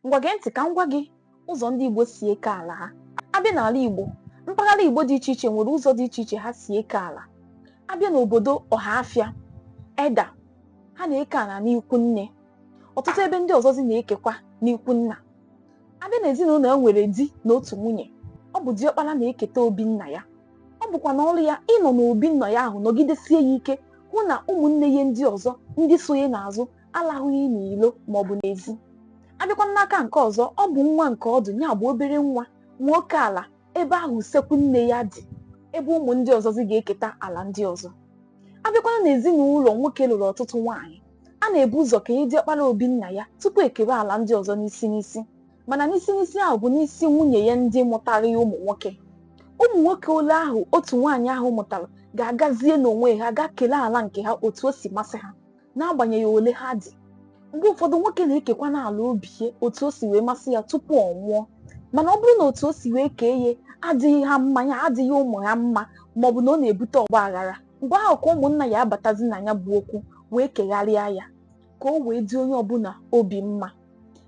ngwa gee ntị ka m gwa gị ụzọ ndị Igbo si eke ala ha abịa n'ala Igbo mpaghara Igbo dị iche iche nwere ụzọ dị iche iche ha si eke ala abịa n'obodo Ọhafịa Eda ha na-eke ala n'ikwu nne ọtụtụ ebe ndị ọzọzi na-ekekwa n'ikwu nna abịa n'ezinụlọ e nwere di na otu nwunye ọ bụ diọkpara na-eketa obi nna ya ọ bụkwana ọrụ ya ịnọ n'obi nna ya ahụ nọgidesie ya ike hụ na ụmụnne ya ndị ọzọ ndị so ya n'azụ alahụghị n'ilo ma ọ bụ n'ezi abịakwa n'aka nke ọzọ ọ bụ nwa nke ọdụ ya bụ obere nwa nwe oke ala ebe ahụ usekwu nne ya dị ebe ụmụ ndị ọzọzi ga-eketa ala ndị ọzọ abịakwana n'ezinụlọ nwoke lụrụ ọtụtụ nwaanyị a na-ebu ụzọ kenye diọkpara obi nna ya tupu ekewe ala ndị ọzọ n'isi n'isi mana n'isi n'isi ahụ bụ n'isi nwunye ya ndị mụtara ya ụmụ nwoke ụmụ nwoke ole ahụ otu nwaanyị ahụ mụtara ga-agazie n'onwe ha ga kelee ala nke ha otu o si masị ha n'agbanyeghị ole ha dị mgbe ụfọdụ nwoke na-ekekwana ala obi ya otu o si wee masị ya tupu ọ nwụọ mana ọ bụrụ na otu o si wee kee ya adịghị ha mma ya adịghị ụmụ ya mma ma ọ bụ na ọ na-ebute ọgba aghara mgbe ahụ ka ụmụnna ya abatazi na ya bụ okwu wee kegharịa ya ka o wee dị onye ọbụla obi mma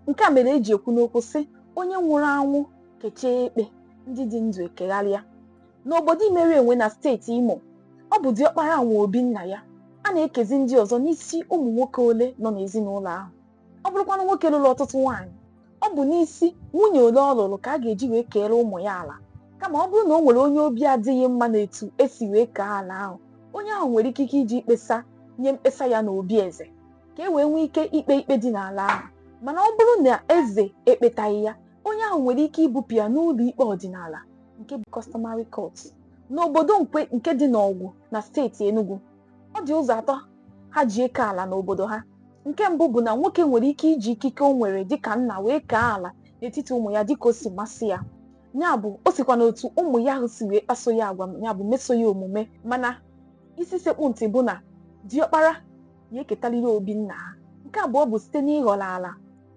nke a mere eji ekwu n'okwu sị onye nwụrụ anwụ kechaa ekpe ndị dị ndụ ekegharịa N'obodo Imerienwe na steeti Imo, ọ bụ diọkpara nwe obi nna ya. A na-ekezi ndị ọzọ n'isi ụmụ nwoke ole nọ n'ezinụlọ ahụ. Ọ bụrụkwanụ nwoke lụrụ ọtụtụ nwaanyị, ọ bụ n'isi nwunye ole ọ lụrụ ka a ga-eji wee keere ụmụ ya ala. Kama ọ bụrụ na o nwere onye obi adịghị mma n'etu e si wee kee ala ahụ, onye ahụ nwere ikike iji mkpesa nye mkpesa ya n'obi eze ka e wee nwee ike ikpe ikpe dị n'ala ahụ. Mana ọ bụrụ na eze ekpetaghị ya, onye ahụ nwere ike ibupụ ya n'ụlọ ikpe ọdịnala nke bụ customary court n'obodo Nkwe nke dị n'Ọgwụ na steeti Enugu ọ dị ụzọ atọ ha ji eke ala n'obodo ha nke mbụ bụ na nwoke nwere ike iji ikike o nwere dịka nna wee kee ala n'etiti ụmụ ya dịka o si masị ya ya bụ o sikwa n'otu ụmụ ya ahụ si wee kpaso ya agwa ya bụ meso ya omume mana isi sekpụ ntị bụ na diọkpara ya eketaliri obi nna ha nke abụọ bụ site n'ịghọrọ ala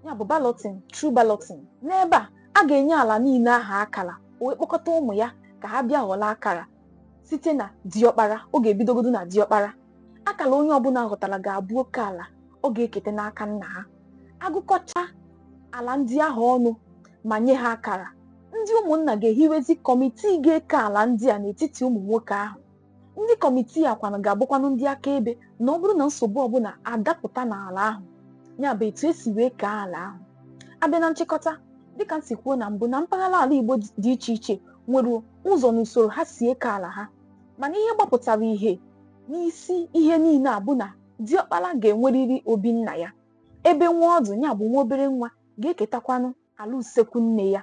ya bụ balloting through balloting n'ebe a a ga-enye ala niile ahụ akara o wee kpọkọta ụmụ ya ka ha bịa ghọrọ akara site na diọkpara ọ ga-ebidogodo na diọkpara akara onye ọbụla ghọtara ga-abụ oke ala ọ ga-ekete n'aka nna ha agụkọcha ala ndị ahụ ọnụ ma nye ha akara ndị ụmụnna ga-ehiwezi kọmitii ga-eke ala ndị a n'etiti ụmụ nwoke ahụ Ndị kọmitii a kwanụ ga-abụkwanụ ndị akaebe na ọ bụrụ na nsogbu ọbụla adapụta n'ala ahụ, ya bụ etu e si wee kee ala ahụ. A bịa na nchịkọta, dịka m si kwuo na mbụ na mpaghara ala Igbo dị iche iche nwere ụzọ na usoro ha si eke ala ha, mana ihe gbapụtara ihe n'isi ihe niile a bụ na diọkpara ga-enwerịrị obi nna ya, ebe nwa ọdụ ya bụ nwa obere nwa ga-eketakwanụ ala usekwu nne ya.